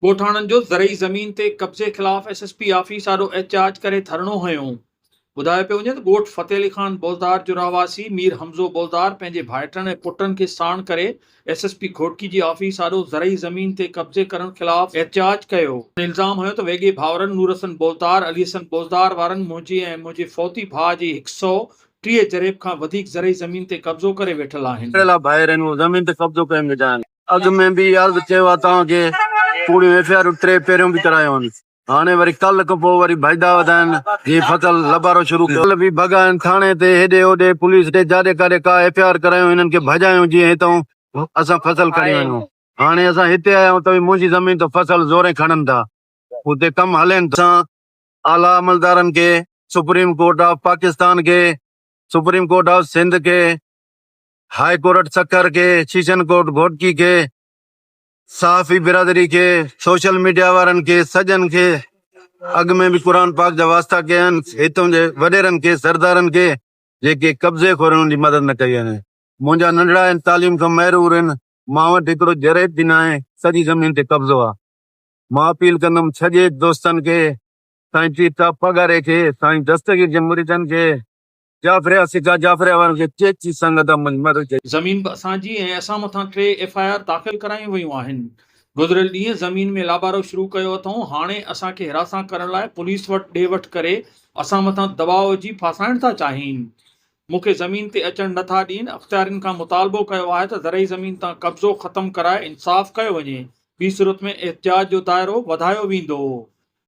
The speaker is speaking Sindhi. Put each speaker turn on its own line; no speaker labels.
ڳوٺاڻن جو زرعي زمين تي قبضي خلاف ايس ايس پي آفيس آڏو احتجاج ڪري ڌرڻو هنيو. ٻڌايو پيو وڃي ته ڳوٺ فتح علي خان بولدار جو رهواسي مير حمزو بولدار پنهنجي ڀائٽن ۽ پٽن کي ساڻ ڪري ايس ايس پي گهوٽڪي جي آفيس آڏو زرعي زمين تي قبضي ڪرڻ خلاف احتجاج ڪيو. هن الزام هنيو ته ويڳي ڀائرن نورحسن بولدار، علي حسن بولدار وارن منهنجي ۽ منهنجي فوتي ڀاء جي هڪ سئو ٽيهه جريب کان وڌيڪ زرعي زمين تي قبضو ڪري ويٺل آهن. ڪهڙي لاء ڀائر هن زمين
تي قبضو ڪيم وجهائن. اڳ ۾ به عرض ڪيو آ توهان کي ڪوڙيون ايف آء آرون ٽي پهريون به ڪرايون آهن هاڻي وري ڪل کان پوء وري ڀائيدا وڌائن جي ڦڪل لبارو شروع ڪيو ڪل به ڀڳائن ٿاڻي تي هيڏي هوڏي پوليس ڏي جاڏي ڪاڏي ڪا ايف آء آر ڪرايون هنن کي ڀڄايون جيئن هتئون اسان ڦصل کڻي وڃون هاڻي اسان هتي آيا آهيون ته به منهنجي زمين تان ڦصل زورين کڻن ٿا اتي ڪم هلين ٿو اسان اعليٰ عملدارن کي سپريم ڪورٽ آف پاڪستان کي سپريم ڪورٽ آف سنڌ کي. هاء ڪورٽ سکر کي، سيشن ڪورٽ گهوٽڪي کي، صحافي برادري کي، سوشل ميڊيا وارن کي سڄن کي اڳ ۾ به قرآن پاڪ جا واسطا ڪيا آهن، هتون جي وڏيرن کي، سردارن کي جيڪي قبضي خورن ان جي مدد نه ڪئي آهي. منهنجا ننڍڙا آهن، تعليم کان محرور آهن، مان وٽ هڪڙو جريد به ناهي، سڄي زمين تي قبضو آهي. مان اپيل ڪندم سڄي دوستن کي، سائين پير صاحب پاڳاري کي، سائين دستگير جي مريدن کي، جعفر يا سگا جعفر وارن کي چيچي سنگت منجھ مھر جي. زمين به اسان جي
۽ اسان مٿان ٽي ايف آء آر داخل ڪرايون ويون آهن گذريل ڏينهن زمين ۾ لابارو شروع ڪيو اٿئون هاڻي اسان کي حراسان ڪرڻ لاء پوليس وٽ ڏي وٺ ڪري اسان مٿان دٻاء وجهي ڦاسائڻ ٿا چاهين مون کي زمين تي اچڻ نه ٿا ڏين اختيارين کان مطالبو ڪيو آهي ته زرعي زمين تان قبضو ختم ڪرائي انصاف ڪيو وڃي ٻي صورت ۾ احتجاج جو دائرو وڌايو ويندو.